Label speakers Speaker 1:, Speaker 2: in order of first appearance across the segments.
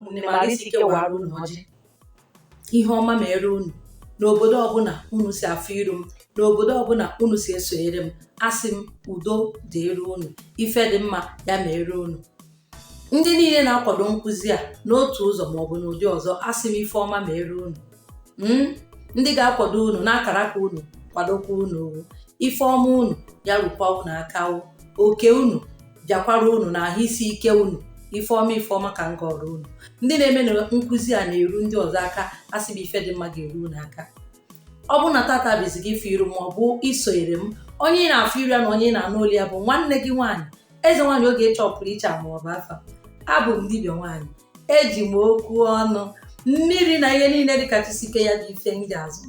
Speaker 1: ụmụnne m arụ isi ike wara unu ọjị ihe ọma mere unu n'obodo ọbụla unu si afụ iru m n'obodo ọbụla unu si esonyere m asị m udo dịrị unu ife dị mma ya mere unu ndị niile na-akwado nkụzi a n'otu ụzọ maọbụ n'ụdị ọzọ asị m ife ọma mere unu hmm? ndị ga-akwado unu n'akaraka unu kwadokwa unu ife ọma unu ya rukwa unu aka oke unu bịakwara unu na ahụ isi ike unu ife ọma ife ọma ka m gọrọ unu ndị na-eme na nkụzi a na-eru ndị ọzọ aka asị m ife dị mma ga-eru unu aka ọ bụ na tata bụ izizi gị ịfụ iru m maọbụ isonyere m onye ị na-afụ iru ya na onye ị na-anụ olu ya bụ nwanne gị nwaanyị eze nwaanyị ogechi ọpụrụ iche ama ọba afa abụ m dibịa nwaanyị eji m okwu ọnụ mmiri na ihe niile dịka chi si kee ya bụ ife m ji azọ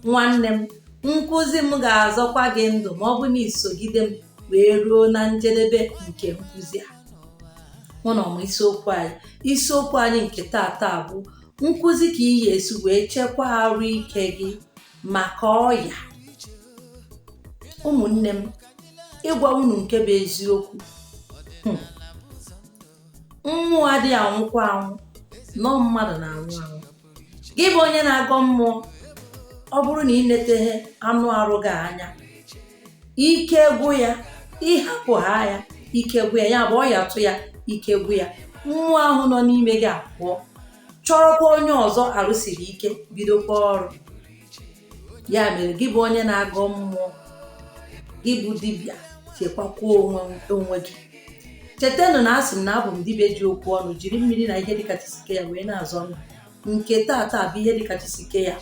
Speaker 1: nwanne m nkụzi m ga-azọkwa gị ndụ ma ọ bụ na i sogide m wee ruo na njedebe nke nkụzi a mụ na ọmụ isiokwu anyị isiokwu anyị nke tata bụ nkụzi ka ị ya-esi wee chekwaa arụ ike gị maka ọya ụmụnne m ịgwa unu nke bụ eziokwu hmm. mmụọ adịghị anwụkwa anwụ na ọ mmadụ na-anwụ anwụ gị bụ onye na-agọ mmụọ ọ bụrụ na ị netaghị anụ arụ gị anya ike gwụ ya ịhapụ ha ya ike gwụ ya ya bụ ọya tụ ya ike gwụ ya mmụọ ahụ nọ n'ime gị apụọ chọrọkwa onye ọzọ arụ siri ike bidokwa ọrụ ya mere gị bụ onye na-agọ mmụọ gị bụ dibịa chekwakwuo onwe gị chetanụ na asị m na abụ m dibịa ji okwu ọnụ jiri mmiri na ihe dịka chi si kee ya wee na-azọ ndụ nke tata bụ ihe dịka chi si kee ya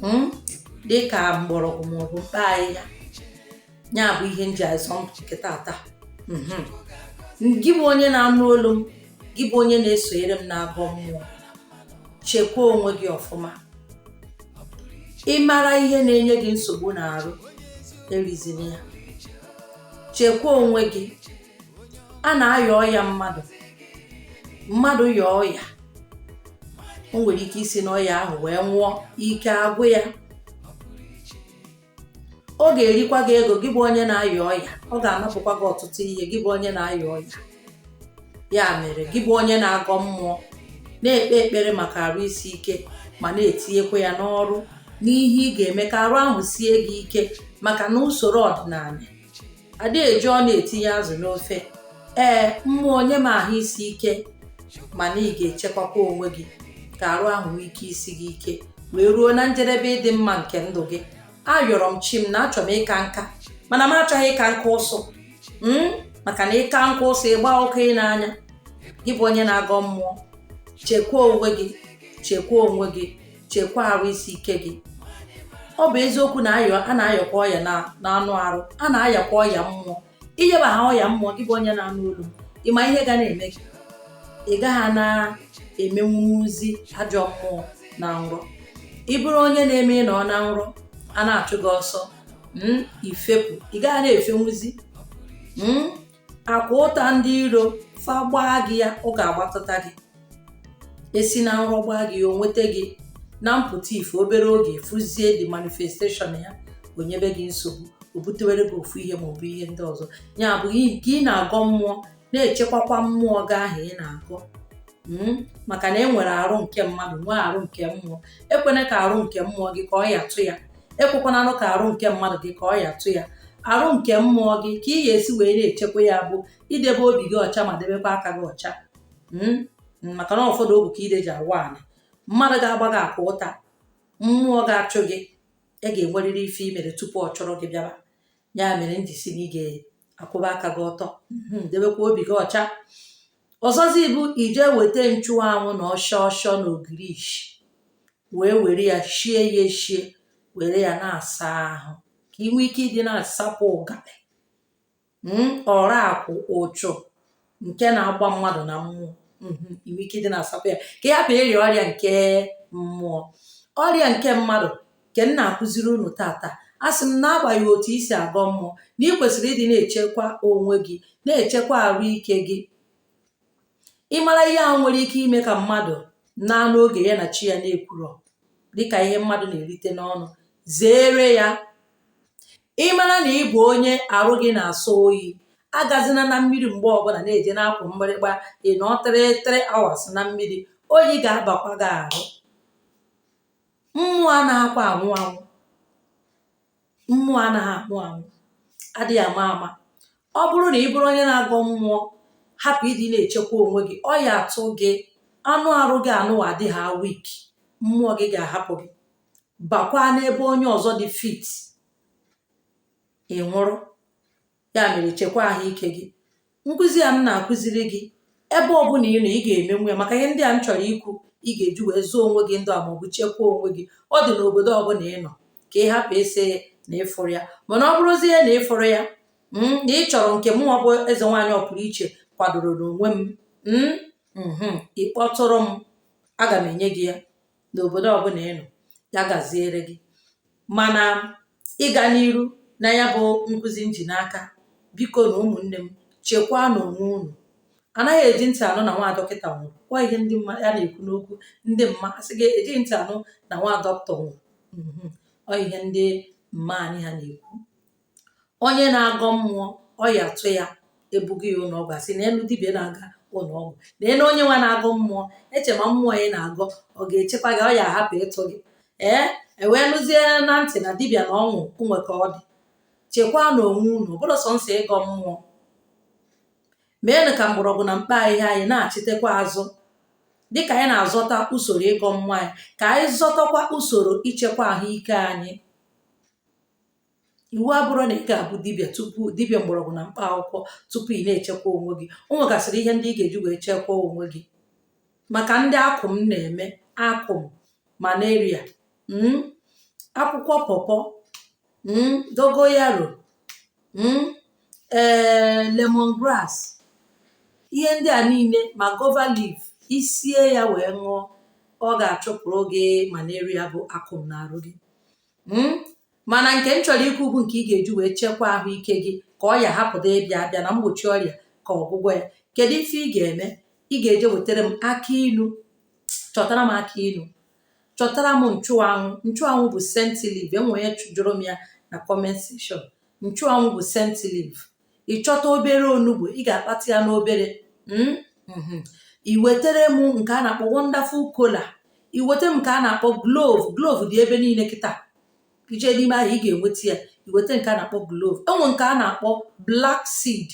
Speaker 1: hmm? dịka mgbọrọgwụ maọbụ mkpa ahịhịa ya bụ ihe nji azọ nke tata mhm. gị bụ onye na-anụ olu m gị bụ onye na-esonyere m na-agọ mmụọ chekwa onwe gị ọfụma ị mara ihe na-enye gị nsogbu n'arụ erizina ya chekwa onwe gị a na-aya ọya mmadụ mmadụ yaa ọya o nwere ike isi n'ọya ahụ wee nwụọ ike agwụ ya ọ ga-erikwa gị ego gị bụ onye na-aya ọya ọ ga-anapụkwa gị ọtụtụ ihe gị bụ onye na-aya ọya ya mere gị bụ onye na-agọ mmụọ na-ekpe ekpere maka arụ isi ike ma na-etinyekwa ya n'ọrụ n'ihe ị ga-eme ka arụ ahụ sie gị ike maka na usoro ọdịnanị ada eji ọnụ etinye azụ n'ofe ee mmụọ nye m ahụ isi ike mana ị ga-echekwakwa onwe gị ka arụ ahụ nwee ike isi gị ike wee ruo na njedebe ịdị mma nke ndụ gị ayọrọ m chi m na achọrọ m ịka nka mana m achọghị ịka nka ụsụ hmm? maka na ịka nka ụsụ ịgba ọkụ ị n'anya gị bụ onye na-agọ mmụọ chekwaa onwe gị chekwaa onwe gị chekwa arụ isi ike gị ọ bụ eziokwu na a na-ayakwa ọya n'anụ arụ a na-ayakwa ọya mmụọ ị yaba ha ọya mmụọ gị bụ onye na-anụ olu ị ma ihe ga na-eme gị ị gaghị na-emenwuzi ajọ mmụọ na nrọ ị bụrụ onye na-eme ị nọ na nrọ a na-achụ gị ọsọ hmm, ị fepụ ị gaghị na-efenwuzi hmm, akụ ụta ndị iro fa gbaa gị ya ọ ga-agbatụta gị e si na nrọ gbaa gị ya o nweta gị na mpụta ife obere oge fụzie the manifestation ya o nyebe gị nsogbu o butewere gị ofu ihe maọbụ ihe ndị ọzọ ya bụ ka ị na-agọ mmụọ na-echekwakwa mmụọ gị ahụ ị na-agọ hmm? maka na e nwere arụ nke mmadụ nwee arụ nke mmụọ ekwena ka arụ nke mmụọ gị ka ọya tụ ya ekwekwananụ ka arụ nke mmadụ gị ka ọya tụ ya arụ nke mmụọ gị ka ị ga-esi wee na-echekwa ya bụ idebe obi gị ọcha ma debekwa aka gị ọcha hmm? maka na ọfọ na ogu ka ide ji awa ala mmadụ ga-agba gị akụ ụta mmụọ ga-achụ gị e ga-enwerịrị ife i mere tupu ọ chọrọ gị bịaba ya mere m ji si na ị ga-akwụba aka gị ọtọ hmm, debekwa obi gị ọcha ọzọzi bụ ije weta nchụanwụ na ọshọ ọshọ na ogirishi wee were ya shie ya eshie were ya na-asa ahụ ka ị nwee ike ịdị na-asapụ ụgalị mm, ọra akwụ uchu nke na-agba mmadụ na mmụọ mhm, ị nwee ike ịdị na-asapụ ya ka ị hapụ ịrịa ọrịa nke mmụọ ọrịa nke mmadụ nke m na-akụziri unu taata asị m na agbaghị otu isi agọ mmụọ na ị kwesịrị ịdị na-echekwa onwe gị na-echekwa arụ ike gị ị mara ihe ahụ nwere ike ime ka mmadụ naa n'oge ya na chi ya na-ekwurọ dịka ihe mmadụ na-erite n'ọnụ zeere ya ị mara na ị bụ onye arụ gị na-asọ oyi agazina na mmiri mgbe ọbụla na-eje na-akụ mgbịrịgba ị nọ three three hours na mmiri oyi ga-abakwa gị ahụ mmụọ anaghịkwa anwụ anwụ mmụọ anaghị anwụ anwụ adịghị ama ama ọ bụrụ na ị bụrụ onye na-agọ mmụọ hapụ ịdị na-echekwa onwe gị ọya atụ gị anụ arụ gị anụwa dịha weak mmụọ gị ga-ahapụ gị bakwa n'ebe onye ọzọ dị fit ị nwụrụ ya mere chekwa ahụike gị nkụzi a m na-akụziri gị ebe ọ bụla ị nọ ị ga-emenwu ya maka ihe ndị a m chọrọ ikwu ị ga-eji wee zọọ onwe gị ndụ a maọbụ chekwaa onwe gị ọ dị n'obodo ọbụla ị nọ ka ị hapụ ịsị na ị fụrọ ya mana ọ bụrụzie na ị fụrọ ya mm, na ị chọrọ nke mụ bụ eze nwaanyị ọpụrụ iche kwadoro n'onwe m mm, mhm, ị kpọtụrụ m aga m enye gị ya n'obodo ọbụla ị nọ ya gaziere gị mana ịga n'iru na ya bụ nkụzi m ji n'aka biko na ụmụnne m chekwaanụ onwe unu anaghị eji ntị anụ na nwa dọkịta nwụrụ ọ ihe ndị mma na-ekwu n'okwu ndị mma asị gị ejighị ntị anụ na nwa dọkịta nwụrụ mhm. ọ ihe ndị mma anyị ha na-ekwu onye na-agọ mmụọ ọya tụ ya ebuga ya ụlọ ọgwụ asị neenụ dibịa na-aga ụlọ ọgwụ neenụ onye nwa na-agọ mmụọ eche ma mmụọ ị na-agọ ọ ga-echekwa gị ọya ahapụ ịtụ gị ee e wee nụzie na ntị na dibịa na ọnwụ o nwe ka ọ dị chekwaanụ onwe unu ọ bụrọ sọnsọ ịgọ mmụọ meenụ ka mgbọrọgwụ na mkpa ahịhịa anyị nachitekwa azụ dịka anyị na-azọta usoro ịgọ mmụọ anyị ka anyị zọtakwa usoro ichekwa ahụike anyị iwu abụrọ na ị ga-abụ dibịa tupu dibịa mgbọrọgwụ na mkpa akwụkwọ tupu ị na-echekwa onwe gị o nwegasịrị ihe ndị ị ga-eji wee chekwaa onwe gị maka ndị akụm na-eme akụm malaria mm, akwụkwọ pọpọ mm, dogoyaro mm, ee lemongrass ihe ndị a niile ma guava leaf i sie ya wee ṅụọ ọ ga-achụpụrụ gị malaria bụ akụm n'arụ gị Mm? mana nke m chọrọ ikwu bụ nke ị ga-eji wee chekwaa ahụike gị ka ọya hapụdị ịbịa abịa na mgbochi ọrịa ka ọgwụgwọ ya kedu ife ị ga-eme ị ga-eje wetara m akị ilu chọtara m akị ilu chọtara m nchụanwụ nchụanwụ bụ scent leaf e nwe onye jụrụ m ya na comment section nchụanwụ bụ scent leaf ị chọta obere onugbu ị ga-akpata ya n'obere mm, mm-hmm. i wetere m nke a na-akpọ wonderful kola i wetere m nke a na-akpọ clove clove dị ebe niile kịta i je n'ime ahịa ị ga-enweta ya i weta nke a na-akpọ clove e nwe nke a na-akpọ black seed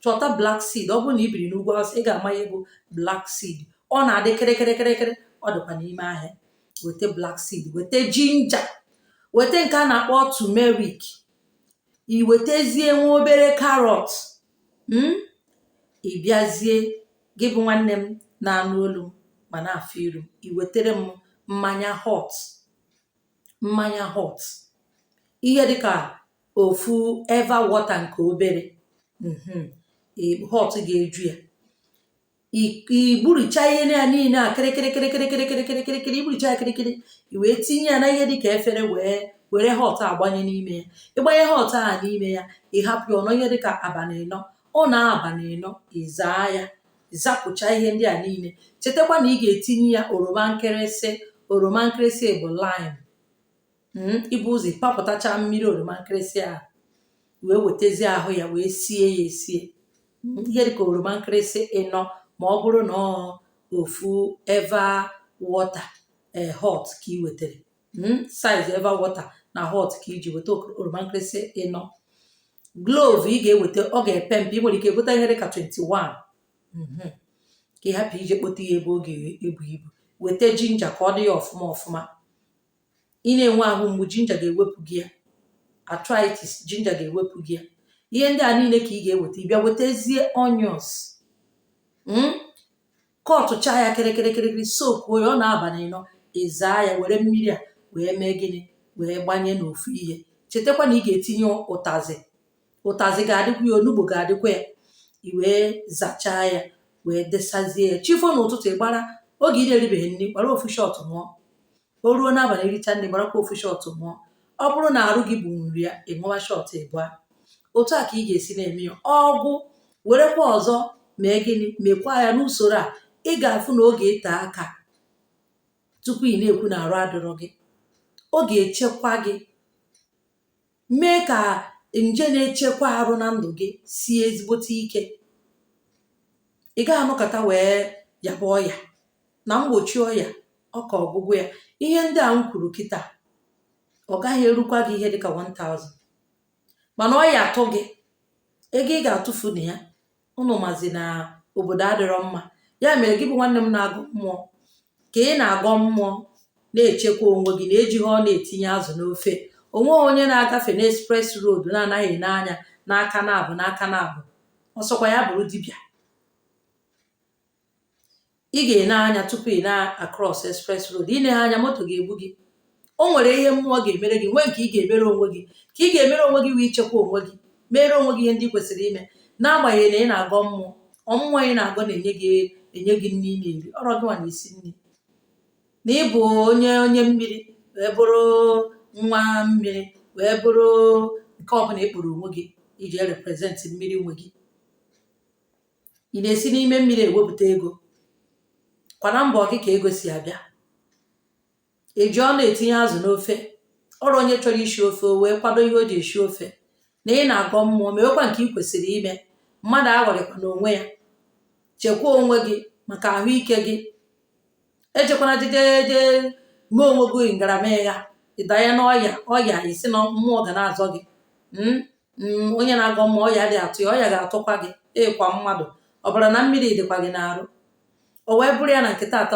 Speaker 1: chọta black seed ọ bụrụ na i biri n'ugwu awụsa ị ga-ama ihe bụ black seed ọ na-adị kịrịkịrịkịrịkịrị ọ dịkwa n'ime ahịa weta black seed weta ginger weta nke a na-akpọ turmeric i wetezie nwa obere carrot mm ị bịazie gị bụ nwanne m na-anụ olu m ma na-afụ iru m i wetere m mmanya hot mmanya hot ihe dịka ofu eva water nke obere mhm, ị- hot ga-eju ya igburucha ihe na ya niile a kịrịkịrịkịrịkịrịkịrịkịrịkịrịkịrịkịrị igburucha ya kịrịkịrị i wee tinye ya na ihe dị ka efere wee were hot agbanye n'ime ya ị gbanye hot a n'ime ya ị hapụ ya ọ nọọ ihe dị ka abanị ịnọ ọ nọọ abanị ịnọ ị zaa ya zapụcha ihe ndị a niile chetakwa na ị ga-etinye ya oroma nkịrịsị oroma nkịrịsị bụ lime hmm, i bu ụzọ papụtacha mmiri oroma nkịrịsị a wee wetazie ahụ ya wee sie ya esie hmm, ihe dịka oroma nkịrịsị ịnọ ma ọ bụrụ na ofu eva water eh, hot ka ị wetara hmm, size eva water na hot ka i ji weta oroma nkịrịsị ịnọ clove ị ga-eweta ọ ga-epe mpe ị nwere ike gote ihe dịka 21 mhm. ka ị hapụ ije kpota ya ebe ọ ga-ebu ibu weta ginger ka ọ dị ya ọfụma ọfụma ị na-enwe ahụ mgbu ginger ga-ewepụ gị ya arthritis ginger ga-ewepụ gị ya ihe ndị a niile ka ị ga-eweta ị bịa wetazie onions mm? kọtụchaa ya kịrịkịrịkịrịkịrị soak ya ọ nọọ abanị ịnọ ị zaa ya were mmiri a wee mee gịnị wee gbanye n'ofu ihe chetakwa na ị ga-etinye ụtazị ụtazị ga-adịkwa ya onugbu ga-adịkwa ya i wee zachaa ya wee desazie ya chi fo n'ụtụtụ ị gbara oge ị na-eribeghị nri gbara ofu shot ṅụọ o ruo n'abanị i richa nri gbarakwa ofu shot ṅụọ ọ bụrụ na arụ gị buru ya ị ṅụwa shot ịbụa otu a ka ị ga-esi na-eme ya ọ gwụ werekwa ọzọ mee gịnị mekwa ya n'usoro a ị ga-afụ na ọ ga-ete aka tupu ị na-ekwu na arụ adịrọ gị ọ ga-echekwa gị mee ka nje na-echekwa arụ na ndụ gị sie ezigbote ike ị gaghị anọkata wee yaba ọya na mgbochi ọya ọ ka ọgwụgwụ ya ihe ndị a m kwuru kịta ọ gaghị erukwa gị ihe dịka 1000 mana ọya atụ gị ego ị ga-atụfu na ya ụnụ mazi na obodo adịrọ mma ya mere gị bụ nwanne m na-agọ mmụọ ka ị na-agọ mmụọ na-echekwa onwe gị na e jighị ọnụ etinye azụ n'ofe o nweghị onye na-agafe n'express road na-anaghị ene anya n'aka naabọ n'aka naabọ ọ sọkwa ya bụrụ dibịa ị ga-ene anya tupu ị na-across express road i neghị anya moto ga-egbu gị o nwere ihe mmụọ ga-emere gị nwee nke ị ga-emere onwe gị ka ị ga-emere onwe gị wee ichekwa onwe gị mere onwe gị ihe ndị ị kwesịrị ime n'agbanyeghị na ị na-agọ mmụọ ọ mmụọ ị na-agọ na-enye gị nri ị na-eri ọrọ gị nwa na-esi nri na ị bụ onye mmiri wee bụrụ nwa mmiri wee bụrụ nke ọbụla ị kpọrọ onwe gị iji represent mmiri nwe gị ị na-esi n'ime mmiri ewepụta ego kwa na mbọ gị ka ego si abịa eji ọnụ etinye azụ n'ofe ọrụ onye chọrọ isi ofe o wee kwado ihe o ji esi ofe na ị na-agọ mmụọ mewekwa nke ị kwesịrị ime mmadụ aghọrịkwana onwe ya chekwa onwe gị maka ahụike gị ejekwana jejeje mee onwe gị ngaramịgha ị danye n'ọya ọya ị sị na mmụọ ga na-azọ gị hmm? Hmm, onye na-agọ mmụọ ọya adị atụ ya ọya ga-atụkwa gị ị kwa mmadụ ọbara na mmiri dịkwa gị n'arụ o wee bụrụ ya na nke taata